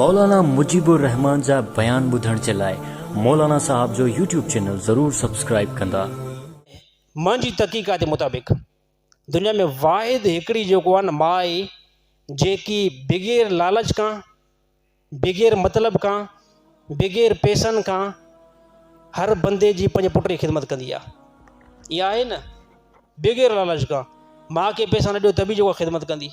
مولانا مجيب الرحمان جا بيان ٻڌڻ جي لاء مولانا صاحب جو يوٽيوب چينل ضرور سبسڪرائيب ڪندا. منهنجي تحقيقات مطابق دنيا ۾ واحد هڪڙي جيڪو آهي نه ماء آهي جيڪي بغير لالچ کان بغير مطلب کان بغير پيسن کان هر بندي جي پنهنجي پٽ جي خدمت ڪندي آهي اها آهي نه بغير لالچ کان ماء کي پيسا نه ڏيو ته به جيڪو خدمت ڪندي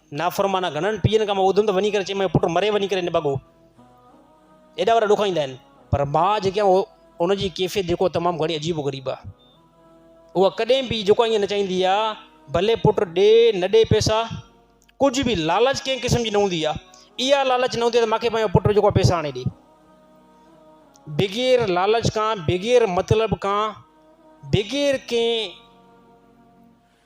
نافرمانا گهڻن پيئن کان مان ٻڌم ته وڃي ڪري چئي مانس پٽ مري وڃي ڪري نڀاڳو. ايڏا وڏا ڏک ايندا آهن. پر ماء جيڪي آهي اهو ان جي ڪيفيت جيڪو تمام گهڻي عجيب و غريب آهي. اها ڪڏهن به جيڪو آهي ائين نه چاهيندي آهي ڀلي پٽ ڏي نه ڏي پئسا ڪجهه به لالچ ڪنهن قسم جي نه هوندي آهي. اها لالچ نه هوندي آهي ته مانکي پنهنجو پٽ جيڪو آهي پئسا آڻي ڏي. بغير لالچ کان بغير مطلب کان بغير ڪنهن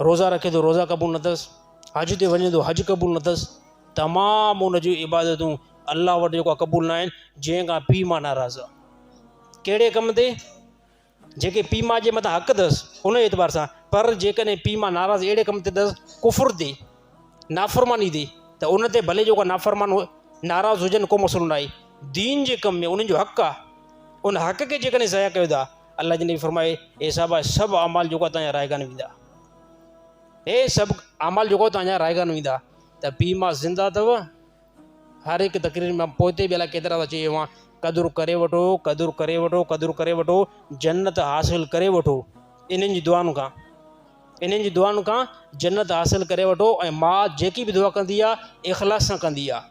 روزا رکي ٿو روزا قبول نه اٿس، حج تي وڃي ٿو حج قبول نه اٿس، تمام ان جون عبادتون الله وٽ جيڪو آهي قبول نه آهن جنهن کان پيء ماء ناراض آهي ڪهڙي ڪم تي جيڪي پيء ماء جي مٿان حق اٿس ان اعتبار سان پر جيڪڏهن پيء ماء ناراض اهڙي ڪم تي اٿس ڪفر تي نافرماني تي ته ان تي ڀلي جيڪو نافرمان ناراض هجن ڪو مسئلو نه آهي دين جي ڪم ۾ انهن جو حق آهي ان حق کي جيڪڏهن ضايع ڪيو ٿا الله جي نبي فرمائي اي صحابه سڀ اعمال جوڪا تانيا رائگان ويندا اي سڀ اعمال جوڪا تانيا رائگان ويندا ته پي ما زنده ٿو هر هڪ تقرير ۾ پوئتي به الاء ڪيترا ٿا چيو اوهان قدر ڪري وٺو قدر ڪري وٺو قدر ڪري وٺو جنت حاصل ڪري وٺو انهن جي دعائن کان انهن جي دعائن کان جنت حاصل ڪري وٺو ۽ ماء جيڪي به دعا ڪندي آهي اخلاص سان ڪندي آهي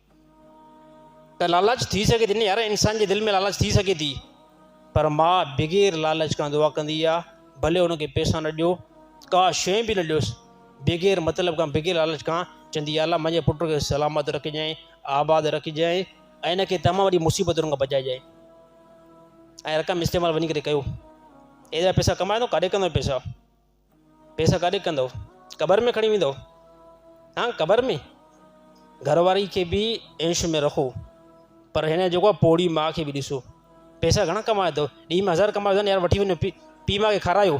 ته لالچ ٿي سگهي ٿي نه يار انسان جي دل ۾ لالچ ٿي سگهي ٿي پر ماء بغير لالچ کان دعا ڪندي آ ڀلي ان کي پيسا نه ڏيو ڪا شي به نه ڏيوس بغير مطلب کان بغير لالچ کان چوندي آ الله منهنجي پٽ کي سلامت رکجانء آباد رکجانء ۽ ان کي تمام وڏي مصيبتن کان بچائجانء ۽ رقم استعمال وڃي ڪري ڪيو ايڏا پيسا ڪمايو ڪاڏي ڪندو پيسا پيسا ڪاڏي ڪندؤ؟ قبر ۾ کڻي ويندؤ؟ ها قبر ۾! گهر واري کي به عيش ۾ رکو پر هن جيڪو آهي پوڙهي ماء کي به ڏسو. پيسا گهڻا ڪمايا اٿو؟ ڏينهن ۾ هزار ڪمايو اٿن يار وٺي وڃو پي پي ماء کي کارايو.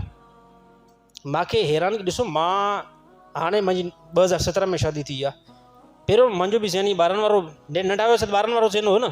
ماء کي حيرانگي ڏسو مان هاڻي منهنجي ٻه هزار سترهن ۾ شادي ٿي آهي. پهريون منهنجو به ذهن ائين ٻارن وارو ننڍا هياسين ٻارن وارو ذهن هو نه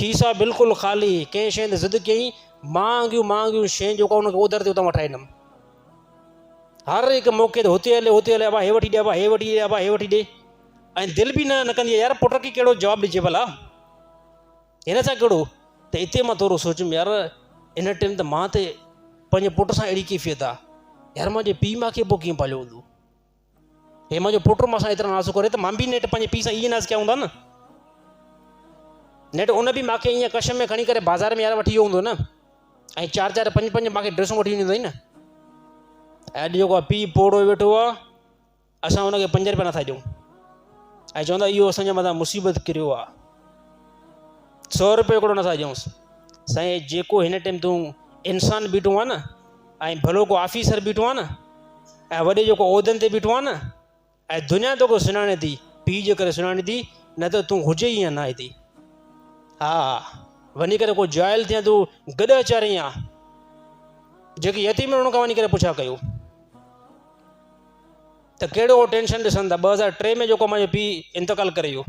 کيسا بلڪل خالي، ڪنهن شيء تي ضد ڪيئين، مهانگيون مهانگيون شين جيڪا ان کي اوڌر تي اتان وٺائي ڏنم. هر هڪ موقعي تي هتي هلي هتي هلي ابا هي وٺي ڏي ابا هي وٺي ڏي ابا هي وٺي ڏي ۽ دل به نه نه ڪندي يار پٽ کي ڪهڙو جواب ڏجي ڀلا هن سان ڪهڙو ته اتي مان ٿورو سوچيم يار ان ٽائيم ته مان ته پنهنجي پٽ سان اهڙي ڪيفيت آ يار منهنجي پيء ماء کي پوء ڪيئن پاليو هوندو هي منهنجو پٽ مون سان ايترا ناز ڪري ته مان به نيٺ پنهنجي پيء سان ايئن ناز ڪيا هوندا نه. نيٺ ان به مان کي ايئن ڪش ۾ کڻي ڪري بازار ۾ يار وٺي ويو هوندو نه. ۽ چار چار پنج پنج مان کي ڊريسون وٺي ڏنيون اٿائين نه. ۽ اڄ جيڪو پيء پوڙهو ويٺو آ اسان ان کي پنج روپيا نٿا ڏيون. ۽ چوندا اهو اسان جي مٿان مصيبت ڪريو آ. سؤ روپيو هڪڙو نٿا ڏيونس. سائين جيڪو هن ٽيم تون انسان بيٺو آ نه ۽ ڀلو ڪو آفيسر بيٺو آهي نه ۽ وڏي جيڪو عهدن تي بيٺو آهي نه ۽ دنيا توکي سڃاڻي ٿي پيء جي ڪري سڃاڻي ٿي نه ته تون هجي ئي نه هتي ها وڃي ڪري ڪو جاهل ٿيان تون گڏهه چارين يا جيڪي يتيم ان کان وڃي ڪري پڇا ڪيو ته ڪهڙو ٽينشن ڏسن ٿا ٻه هزار ٽي ۾ جيڪو منهنجو پيء انتقال ڪري ويو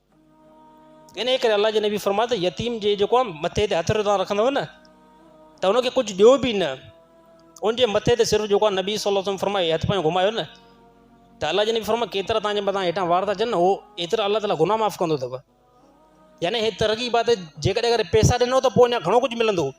انهيء ڪري الله جي نبي فرمايو ته يتيم جي جيڪو مٿي تي هٿ توهان رکندؤ نه ته ان کي ڪجهه ڏيو به نه ان جي مٿي تي صرف جيڪو نبي صلي الله عليه وسلم فرمايو هٿ پنهنجو گهمايو نه ته الله جي نبي فرمايو ڪيترا تنهنجي مٿان هيٺان وار ٿا اچن نه هو ايترا الله تعالا گناهه معاف ڪندو اٿو يعني هي ترغيب آهي ته جيڪڏهن اگر پيسا ڏنو ته پوء اڃا گهڻو ڪجهه ملندو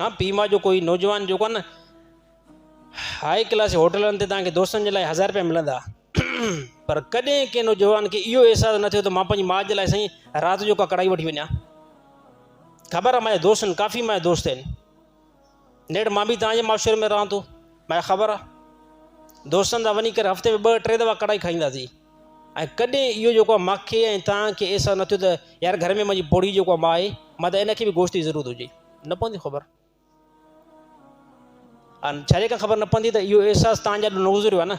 ها پي مان جو ڪوئي نوجوان جو ڪن هائي ڪلاس هوٽلن تي تانکي دوستن جي لاء هزار روپيا ملندا پر ڪڏهن ڪي نوجوان کي اهو احساس نه ٿيو ته مان پنهنجي ماء جي لاء سائين رات جو ڪا ڪڙائي وٺي وڃا خبر آهي مايا دوستن ڪافي مايا دوست آهن نيٺ مان به توهان جي معاشري ۾ رهان ٿو مايا خبر آ دوستن سان وڃي ڪري هفتي ۾ ٻه ٽي دفعا ڪڙائي کائينداسين ۽ ڪڏهن اهو جيڪو آ ماکي ۽ توهان کي احساس نه ٿيو ته يار گهر ۾ منهنجي پوڙهي جيڪو آ ماء آهي مان ته ان کي به گوشت جي ضرورت هجي نه پوندي خبر آ ڇا جيڪا خبر نه پوندي ته اهو احساس توهان جا نه گذريو آ نه